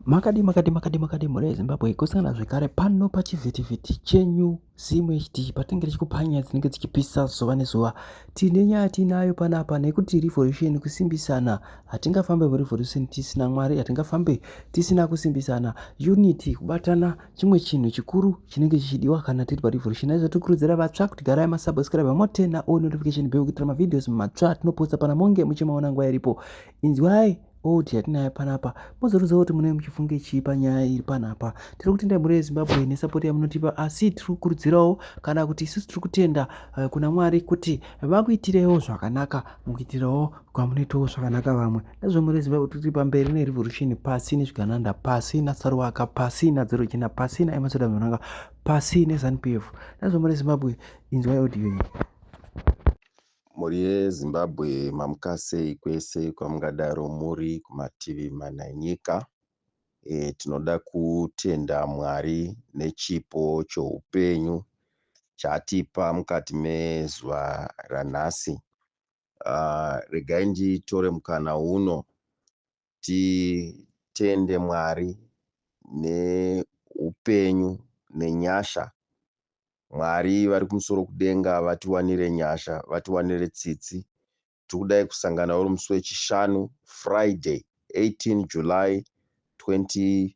Makadi makadi makadi makadi mhuri yeZimbabwe kusangana zvekare pano pachivhitivhiti chenyu Zim HD patinenge tichikupa nyaya dzinenge dzichipisa zuva nezuva. Tine nyaya tiinayo panapa nekuti revolution kusimbisana. Hatingafambe murevolution tisina Mwari, hatingafambe tisina kusimbisana. Unity, kubatana chimwe chinhu chikuru chinenge chichidiwa kana tiri parevolution. Naizvo tikurudzira vatsva kuti garai masubscribe motena all notification bell kuitira mavideos matsva atinoposta pana monge muchimaona nguva iripo. Inzwai Oti yatinayo panapa mozoruziva kuti munenge muchifunge chii panyaya iri panapa tiri kutenda mhuri yezimbabwe nesapoti yamunotipa asi tiri kukurudzirawo kana kuti isusu tiri kutenda eh, kuna mwari kuti vakuitirewo zvakanaka mukuitirawo kwamunoitawo zvakanaka vamwe nezvo mhuri yezimbabwe tiri pamberi nerevolution pasi nezvigananda pasi nasaruwaka pasi nadzero chena pasi naemasoda mhuranga pasi nezanupf nezvo mhuri yezimbabwe inzwai audio iyi Mhuri yeZimbabwe mamukasei kwese kwamungadaro muri kumativi mana enyika. E, tinoda kutenda Mwari nechipo choupenyu chaatipa mukati mezuva ranhasi. Uh, regai nditore mukana uno titende Mwari neupenyu nenyasha Mwari vari kumusoro kudenga vatiwanire nyasha vatiwanire tsitsi tikudai kusangana uri musi wechishanu Friday 18 July 2024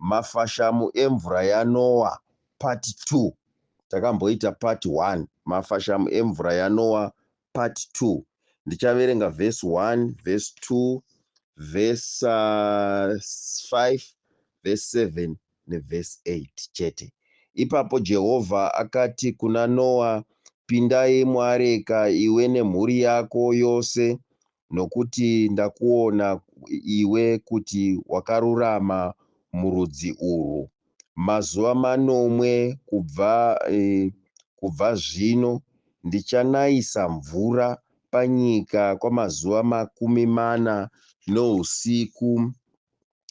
Mafashamu emvura yaNoa part two. Takamboita part one. Mafashamu emvura yaNoa part two. Ndichaverenga verse one, verse two, verse uh, five, verse seven neverse eight chete. Ipapo Jehovha akati kuna Noa, Pindai muareka iwe nemhuri yako yose nokuti ndakuona iwe kuti wakarurama murudzi urwu. Mazuva manomwe kubva, e, kubva zvino ndichanayisa mvura panyika kwamazuva makumi mana nousiku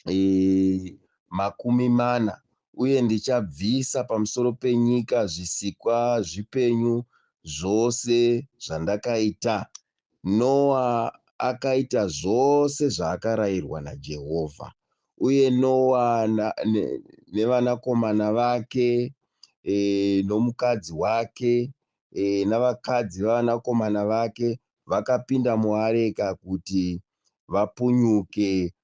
e, makumi mana, uye ndichabvisa pamusoro penyika zvisikwa zvipenyu zvose zvandakaita. Noa akaita zvose zvaakarayirwa naJehovha, uye Noa na, ne, nevanakomana vake e, nomukadzi wake e, navakadzi vevanakomana vake vakapinda muareka kuti vapunyuke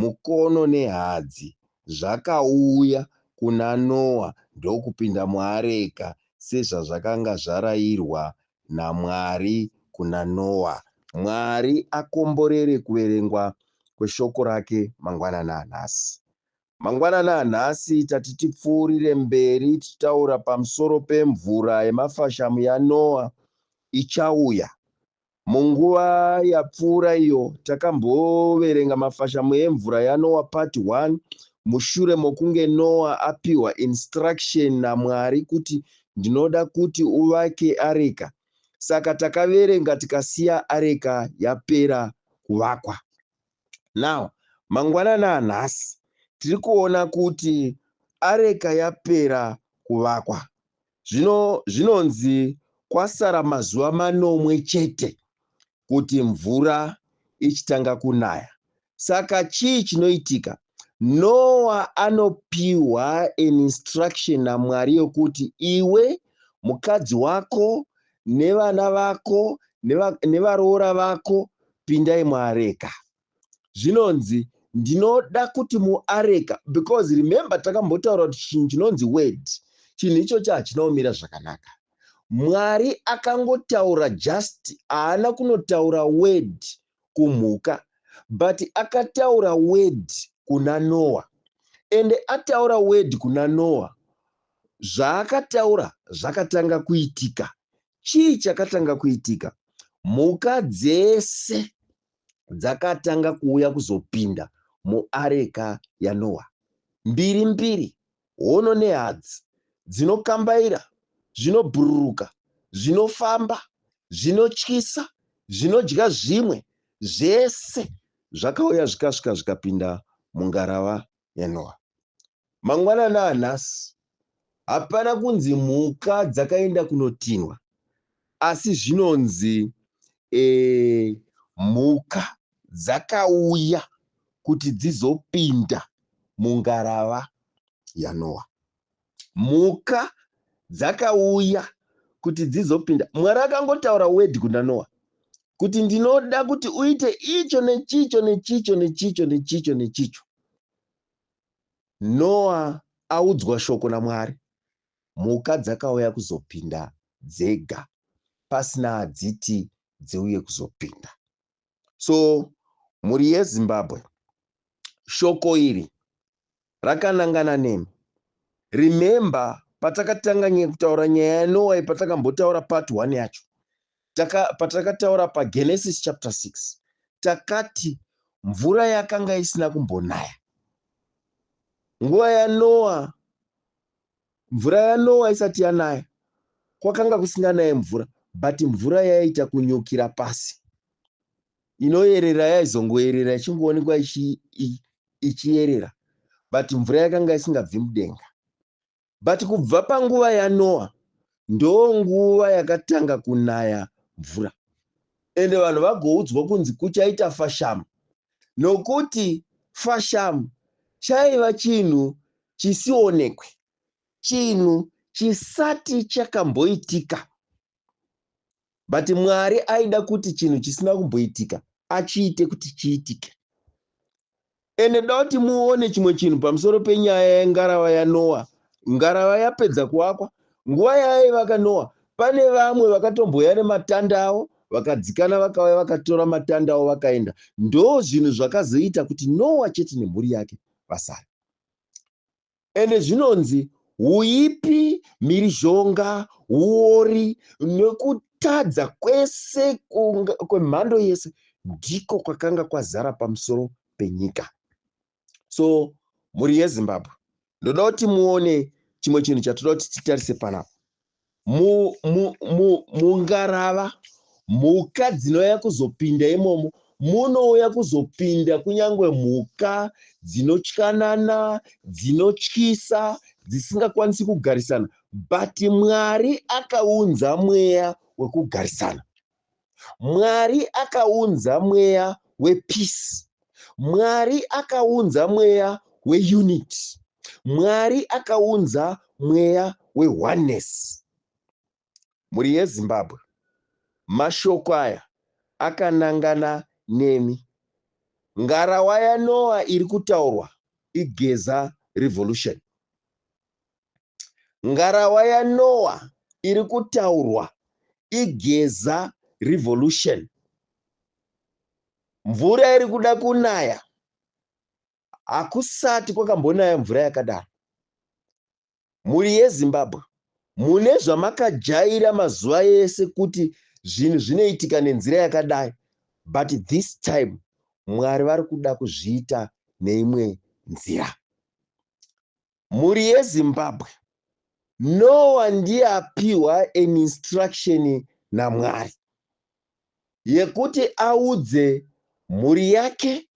mukono nehadzi zvakauya kuna Noa ndokupinda muareka sezvazvakanga zvarayirwa naMwari kuna Noa. Mwari akomborere kuverengwa kweshoko rake mangwanani anhasi. Mangwanani anhasi tati tipfuurire mberi tichitaura pamusoro pemvura yemafashamu yaNoa ichauya Munguva yapfuura iyo, takamboverenga mafashamu emvura yaNoa Part One mushure mokunge Noa apiwa instruction naMwari kuti ndinoda kuti uvake areka. Saka takaverenga tikasiya areka yapera kuvakwa. Now, mangwanana anhasi tiri kuona kuti areka yapera kuvakwa. Zvino zvinonzi kwasara mazuva manomwe chete kuti mvura ichitanga kunaya. Saka chii chinoitika? Noa anopiwa an instruction naMwari yokuti iwe, mukadzi wako, nevana vako, nevaroora vako pindai muareka. zvinonzi ndinoda kuti muareka because remember takambotaura kuti chinhu chinonzi word chinhu ichocho hachina kumira zvakanaka mwari akangotaura just haana kunotaura word kumhuka but akataura word kuna noa ende ataura word kuna noa zvaakataura zvakatanga kuitika chii chakatanga kuitika mhuka dzese dzakatanga kuuya kuzopinda muareka yaNoa. Mbiri mbiri, hono nehadzi dzinokambaira, zvinobhururuka, zvinofamba, zvinotyisa, zvinodya zvimwe, zvese zvakauya zvikasvika zvikapinda mungarava yaNoa. Mangwanani anhasi hapana kunzi mhuka dzakaenda kunotinhwa asi zvinonzi e, mhuka dzakauya kuti dzizopinda mungarava yaNoa. Mhuka dzakauya kuti dzizopinda. Mwari akangotaura word kuna Noa kuti ndinoda kuti uite icho nechicho nechicho nechicho nechicho nechicho. Noa audzwa shoko naMwari, mhuka dzakauya kuzopinda dzega pasina adziti dziuye kuzopinda. So mhuri yeZimbabwe shoko iri rakanangana nemi. Remember patakatanga kutaura nyaya yaNoa iyi patakambotaura part one yacho taka, patakataura paGenesis chapter 6 takati mvura yakanga isina kumbonaya nguva yanoa mvura yanoa isati yanaya kwakanga kusinganaye mvura but mvura yaiita kunyukira pasi inoyerera yaizongoyerera ichingoonekwa ichiyerera but mvura yakanga isingabvi mudenga But kubva panguva yaNoa ndonguva yakatanga kunaya mvura ende vanhu vagoudzwa kunzi kuchaita fashamu nokuti fashamu chaiva chinhu chisionekwe, chinhu chisati chakamboitika but mwari aida kuti chinhu chisina kumboitika achiite kuti chiitike ende da kuti muone chimwe chinhu pamusoro penyaya yengarava yanoa ngarava yapedza kuakwa nguva yaivaka noa pane vamwe vakatombouya nematanda avo vakadzikana vakauya vakatora matanda avo vakaenda ndo zvinhu zvakazoita kuti noa chete nemhuri yake vasara Ende zvinonzi huipi, mhirizhonga, huori nekutadza kwese kwemhando yese ndiko kwakanga kwazara pamusoro penyika. So mhuri yeZimbabwe ndoda kuti muone chimwe chinhu chatoda kuti titarise panapa. mungarava mhuka dzinouya kuzopinda imomo munouya kuzopinda kunyange mhuka dzinotyanana dzinotyisa dzisingakwanisi kugarisana but mwari akaunza mweya wekugarisana Mwari akaunza mweya wepeace. Mwari akaunza mweya weunity. Mwari akaunza mweya weoneness. Mhuri yeZimbabwe, mashoko aya akanangana nemi. Ngarawa yaNoah iri kutaurwa iGeza Revolution. Ngarawa yaNowa iri kutaurwa iGeza Revolution. Mvura iri kuda kunaya. Hakusati kwakambonaya mvura yakadaro. Mhuri yeZimbabwe, mune zvamakajaira mazuva ese kuti zvinhu zvinoitika nenzira yakadai but this time Mwari vari kuda kuzviita neimwe nzira. Mhuri yeZimbabwe Noah ndiye apihwa an instruction naMwari yekuti audze mhuri yake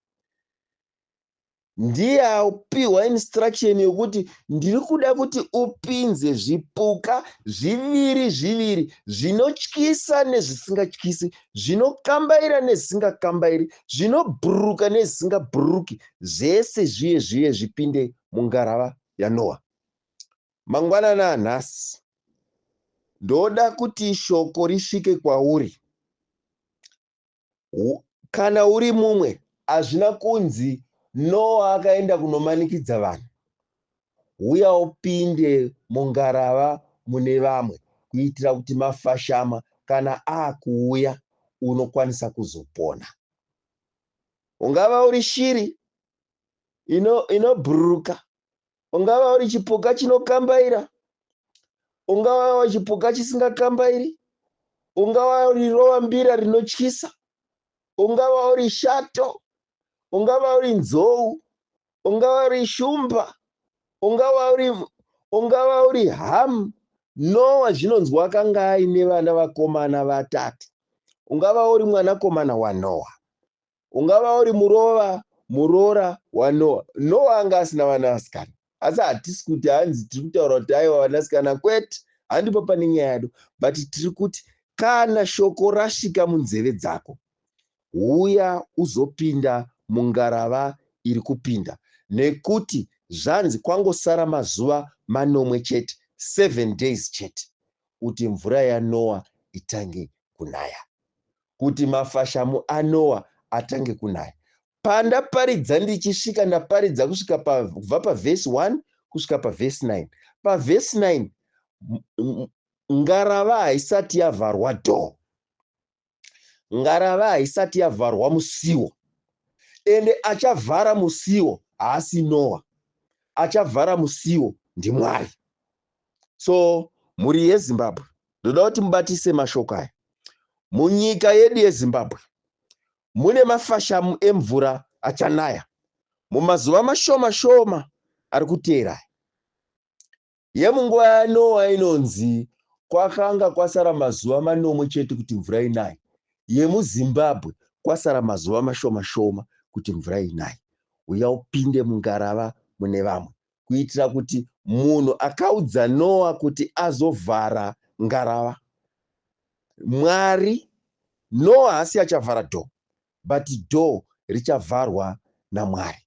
ndiye apihwa instruction yekuti ndiri kuda kuti upinze zvipuka zviviri zviviri zvinotyisa nezvisingatyisi zvinokambaira nezvisingakambairi zvinobhururuka nezvisingabhururuki zvese zviye zviye zvipinde mungarava yaNoa. Mangwanani anhasi, ndoda kuti shoko risvike kwauri. Kana uri mumwe, hazvina kunzi Noa akaenda kunomanikidza vanhu. Huya upinde mungarava mune vamwe kuitira kuti mafashama kana akuuya unokwanisa kuzopona. Ungava uri shiri inobhururuka ino ungava uri chipuka chinokambaira ungava chipuka chisingakambairi ungava uri rovambira rinotyisa ungava uri shato ungava uri nzou ungava uri shumba ungava uri ungava uri hamu nowa zvinonzwa akanga aine vana vakomana vatatu ungava uri mwanakomana wanowa ungava uri murova muroora wanoa noa anga asina vanasikana asi hatisi kuti hanzi tiri kutaura kuti aiwa vanasikana kwete handipo pane nyaya yado but tiri kuti kana shoko rasvika munzeve dzako huya uzopinda mungarava iri kupinda nekuti zvanzi kwangosara mazuva manomwe chete seven days chete kuti mvura yanoa itange kunaya kuti mafashamu aNoa atange kunaya. Pandaparidza ndichisvika, ndaparidza kusvika kubva pavhesi 1 kusvika pavhesi 9. Pavhesi 9 ngarava haisati yavharwa door, ngarava haisati yavharwa musiwo, ende achavhara musiwo haasi Noa, achavhara musiwo ndiMwari. so mhuri yezimbabwe ndoda kuti mubatise mashoko aya munyika yedu yezimbabwe mune mafashamu emvura achanaya mumazuva mashoma shoma ari kuteera yemunguva yanowa inonzi kwakanga kwasara mazuva manomwe chete kuti mvura inaye yemuzimbabwe kwasara mazuva mashoma shoma kuti mvura inaye uya upinde mungarava mune vamwe kuitira kuti munhu akaudza Noa kuti azovhara ngarava. Mwari, Noa haasi achavhara door but door richavharwa naMwari.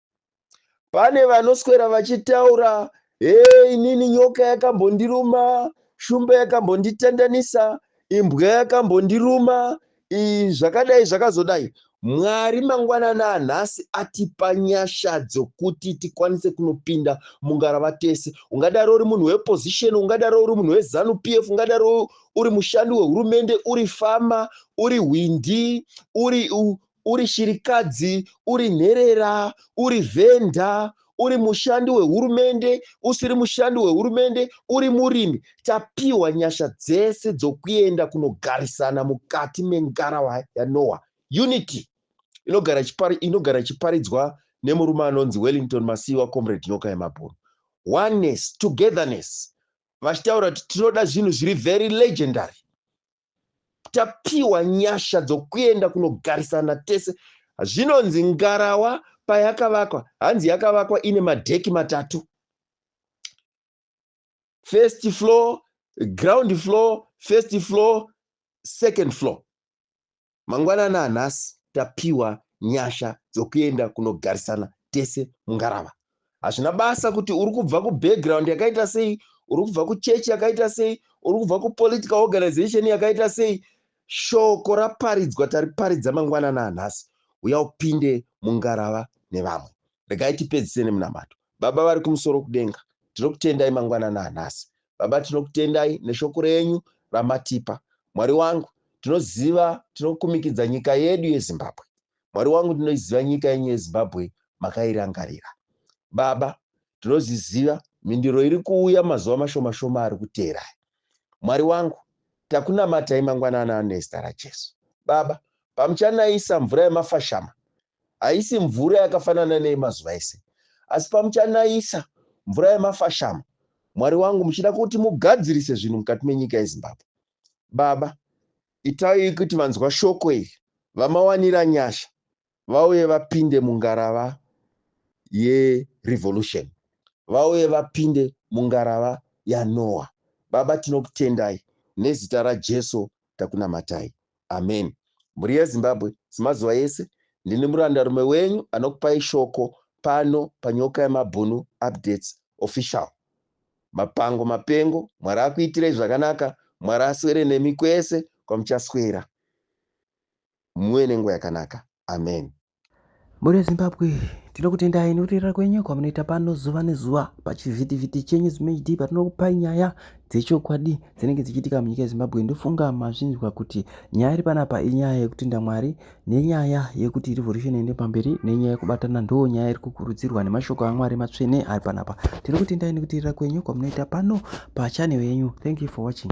Pane vanoswera vachitaura hey, inini nyoka yakambondiruma, shumba yakambonditandanisa, imbwa yakambondiruma, Ii zvakadai zvakazodai Mwari mangwanani anhasi atipa nyasha dzokuti tikwanise kunopinda mungarava tese. Ungadaro uri munhu weopposition, ungadaro uri munhu wezanu PF, ungadaro uri mushandi wehurumende, uri fama, uri hwindi, uri, uri shirikadzi, uri nherera, uri vhenda, uri mushandi wehurumende usiri mushandi wehurumende uri murimi tapiwa nyasha dzese dzokuenda kunogarisana mukati mengarawa yanoa unity inogara chipari inogara chiparidzwa nemurume anonzi wellington masiwa comrade nyoka yemabhunu oneness togetherness vachitaura kuti tinoda zvinhu zviri very legendary tapiwa nyasha dzokuenda kunogarisana tese. Zvinonzi ngarawa payakavakwa, hanzi yakavakwa ine madheki matatu, first floor, ground floor, first floor, second floor. Mangwanani anhasi tapiwa nyasha dzokuenda kunogarisana tese mungarava. Hazvina basa kuti uri kubva kubackground yakaita sei, uri kubva kuchechi yakaita sei, uri kubva kupolitical organization yakaita sei, shoko raparidzwa tariparidza mangwanani anhasi. Uya upinde mungarava nevamwe. Regai tipedzise nemunamato. Baba vari kumusoro kudenga, tinokutendai mangwanani anhasi. Baba, tinokutendai neshoko renyu ramatipa. Mwari wangu, tinoziva, tinokumikidza nyika yedu yeZimbabwe. Mwari wangu, tinoiziva nyika yenyu yeZimbabwe makairangarira. Baba, tinoziziva mhinduro iri kuuya mazuva mashoma shoma ari kuteera. Mwari wangu, takunamatai mangwanana nezita raJesu. Baba, pamuchanaisa mvura yemafashama, haisi mvura yakafanana neyemazuva ese, asi pamuchanayisa mvura yemafashamo, Mwari wangu, muchida kuti mugadzirise zvinhu mukati menyika yeZimbabwe, Baba, itai kuti vanzwa shoko iri vamawanira nyasha vauye vapinde mungarava yerevolution, vauye vapinde mungarava yaNoah. Baba, tinokutendai nezita raJesu takunamatai. Ameni. Mhuri yeZimbabwe, semazuva ese, ndini murandarume wenyu anokupai shoko pano paNyoka Yemabhunu Updates Official. Mapango mapengo, Mwari akuitirei zvakanaka, Mwari aswere nemi kwese kwamuchaswera. Muve nenguva yakanaka. Ameni. Mhuri yeZimbabwe tinokutendai nekurera kwenyu kwamunoita pano zuva nezuva pachivhitivhiti chenyu zimd patinokupai nyaya dzechokwadi dzinenge dzichiitika munyika yezimbabwe ndofunga mazvinzwa kuti nyaya iri panapa inyaya yekutenda mwari nenyaya yekuti revolution ende pamberi nenyaya yekubatana ndo nyaya iri kukurudzirwa nemashoko amwari matsvene ari panapa tiri kutendai nekuterera kwenyu kwamunoita pano pachanel yenyu thank you for watching